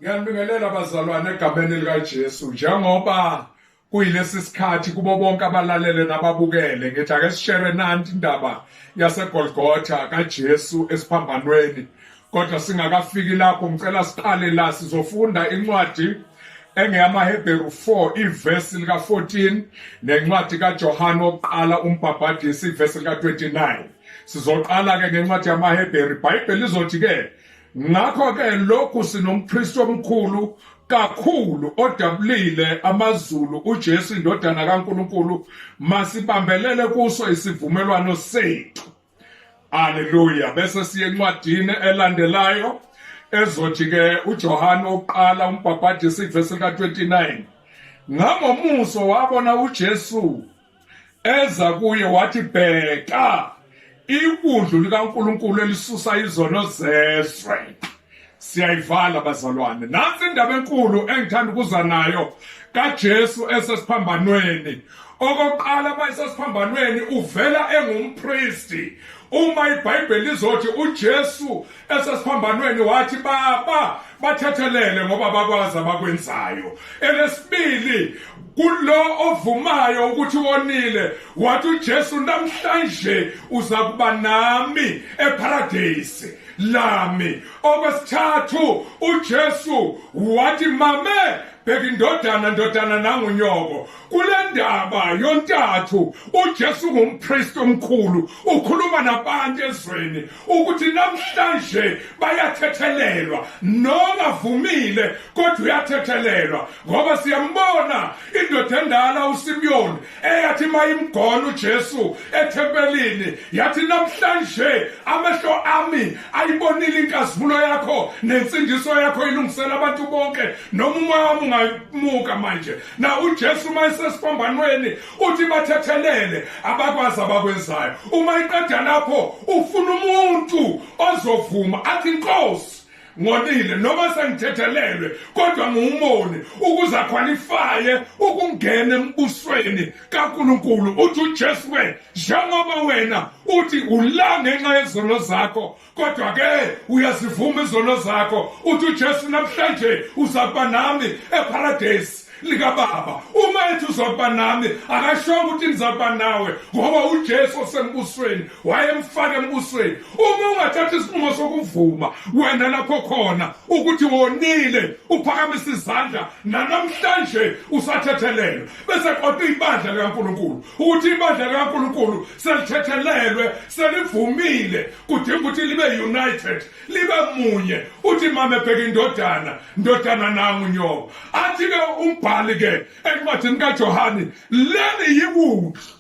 Ngiyanibingelela bazalwane egameni likaJesu njengoba kuyilesi sikhathi kubo bonke abalalele nababukele ngithi ake sishere nanti indaba yaseGolgotha kaJesu esiphambanweni kodwa singakafiki lapho ngicela siqale la sizofunda incwadi engeyamaHebheru 4 ivesi lika 14 nencwadi kaJohane wokuqala umbhabhadisi ivesi lika 29 sizoqala ke ngencwadi yamaHebheru iBhayibheli lizothi ke Ngakho-ke lokhu sinompristi omkhulu kakhulu odabulile amazulu uJesu indodana kaNkuluNkulu masibambelele kuso isivumelwano sethu haleluya bese siye encwadini elandelayo ezothi ke uJohane oqala umbhabhadisi ivesi lika 29 ngamomuso wabona uJesu eza kuye wathi bheka ikundlu likaNkuluNkulu elisusa izono zezwe siyayivala bazalwane nansi indaba enkulu engithanda ukuza nayo kaJesu esesiphambanweni okokuqala uma esesiphambanweni uvela engumpristi uma iBhayibheli lizothi uJesu esesiphambanweni wathi baba bathethelele ngoba bakwazi abakwenzayo elesibili kulo ovumayo ukuthi wonile wathi uJesu namhlanje uza kuba nami eparadise lami okwesithathu uJesu wathi mame bheka indodana ndodana nangunyoko kule ndaba yontathu uJesu ngumpriest omkhulu ukhuluma nabantu ezweni ukuthi namhlanje bayathethelelwa nongavumile kodwa uyathethelelwa ngoba siyambona indoda endala uSimiyoni eyathi mayimgona uJesu ethempelini yathi namhlanje amehlo ami ayibonile inkazimulo yakho nensindiso yakho ilungisela abantu bonke noma umoya wami ungayimuka manje na uJesu uma esesiphambanweni uthi bathethelele abakwazi abakwenzayo uma iqeda lapho ufuna umuntu ozovuma athi inkosi ngonile noma sengithethelelwe kodwa ngiwumoni ukuze akhwalifaye ukungena embusweni kaNkulunkulu uthi uJesu ke njengoba wena uthi ula ngenxa yezono zakho kodwa ke uyazivuma izono zakho uthi uJesu namhlanje uza kuba nami eparadise likababa uma ethi uzokuba nami akashonga ukuthi nizakuba nawe ngoba ujesu osembusweni wayemfaka embusweni uma ungathatha isinqumo sokuvuma wena lapho khona ukuthi wonile uphakamisa izandla nanamhlanje usathethelelwe bese qota ibandla likankulunkulu ukuthi ibandla likankulunkulu selithethelelwe selivumile kudinga ukuthi libe united libe munye uthi mama ebheka indodana ndodana nangu nyobo athi ke umbhali ke encwadini kaJohane leli yiwuthi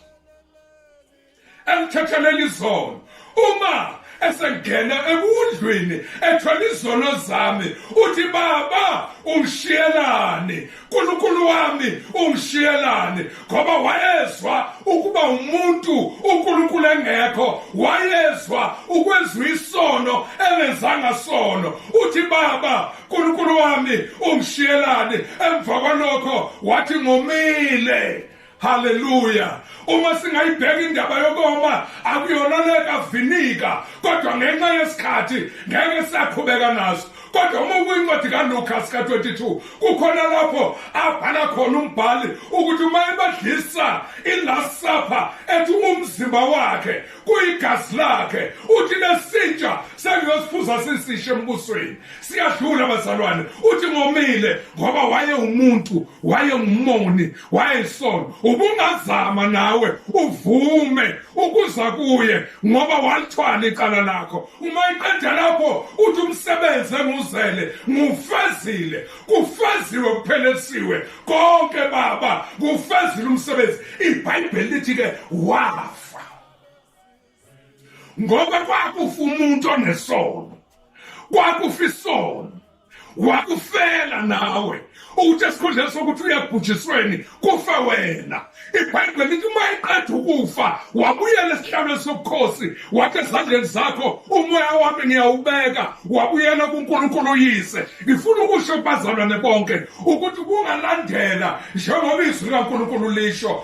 elithetheleli izolo uma esengena ekudlwini ethola izono zami uthi baba ungishiyelani nkulunkulu wami ungishiyelani ngoba wayezwa ukuba umuntu unkulunkulu engekho wayezwa ukwenziwa isono engenzanga sono uthi baba nkulunkulu wami ungishiyelani emva kwalokho wathi ngomile haleluya uma singayibheka indaba yokoma akuyona lekavinika kodwa ngenxa yesikhathi ngeke siyaqhubeka naso kodwa uma ukwincwadi kaluka sika-22 kukhona lapho abhala khona umbhali ukuthi uma ebadlisa i-last supper ethi umzimba wakhe kuyigazi lakhe uthi lesintsha sengiyosiphuza sisishe embusweni siyadlula bazalwane uthi ngomile ngoba wayewumuntu wayengumoni wayesola ubungazama nawe uvume ukuza kuye ngoba walithwala icala lakho uma iqeda lapho uthi umsebenzi enguzele ngufezile kufeziwe kuphelelisiwe konke baba kufezile umsebenzi ibhayibheli lithi-ke wafa ngoba kwakufa umuntu onesono kwakufa isono wakufela nawe ukuthi esikhundleni sokuthi uyabhujisweni kufe wena ibhayibheli lithi uma eqeda ukufa wabuyela esihlalweni sobukhosi wathi ezandleni zakho umoya wami ngiyawubeka wabuyela kunkulunkulu uyise ngifuna ukusho kubazalwane bonke ukuthi kungalandela njengoba izwi likankulunkulu lisho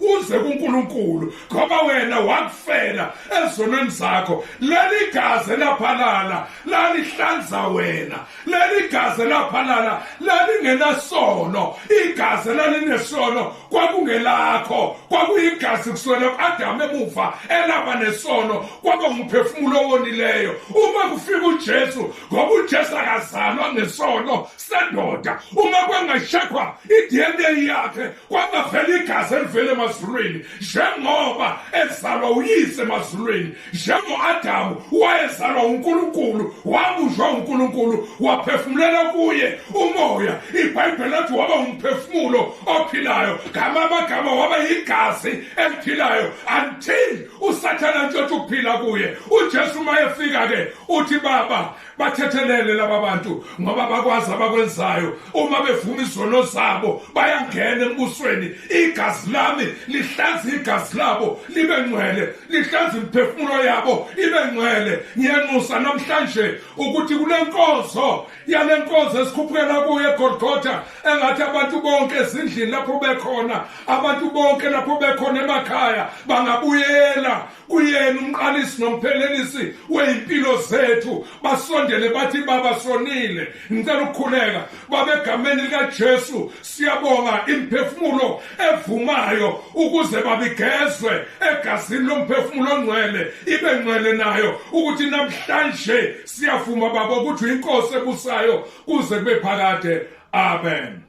uze kuNkulunkulu ngoba wena wakufela ezonweni zakho leli gazi laphalala lalihlanza wena leli gazi laphalala lalingenasono igazi lalinesono kwakungelakho kwakuyigazi kusona u-adamu emuva elaba nesono kwaba ngumphefumulo owonileyo uma kufika ujesu ngoba ujesu akazalwa ngesono sendoda uma kwengashekhwa i-dna yakhe kwangavela igazi elivela emazulwini njengoba ezalwa uyise emazulwini njengo-adamu wayezalwa unkulunkulu wabunjwa unkulunkulu waphefumulela kuye umoya ibhayibheli lathi waba umphefumulo ophilayo ngama amagama waba yigazi eliphilayo until usathana ntshotha ukuphila kuye ujesu uma efika-ke uthi baba bathethelele laba bantu ngoba bakwazi abakwenzayo uma bevuma izono zabo bayangena embusweni igazi lami lihlanza igazi labo libe ngcwele lihlanza imiphefumulo yabo ibe ngcwele ngiyanxusa namhlanje ukuthi kule nkonzo yale nkonzo esikhuphukela kuyo egolgotha engathi abantu bonke ezindlini lapho bekhona abantu bonke lapho bekhona emakhaya bangabuyela kuyena umqalisi nomphelelisi weyimpilo zethu basondele bathi baba sonile ngicela ukukhuleka baba egameni likaJesu siyabonga imphefumulo evumayo ukuze babigezwe egazini lomphefumulo ongcwele ibe ngcwele nayo ukuthi namhlanje siyavuma baba ukuthi uyinkosi ebusayo kuze kube phakade amen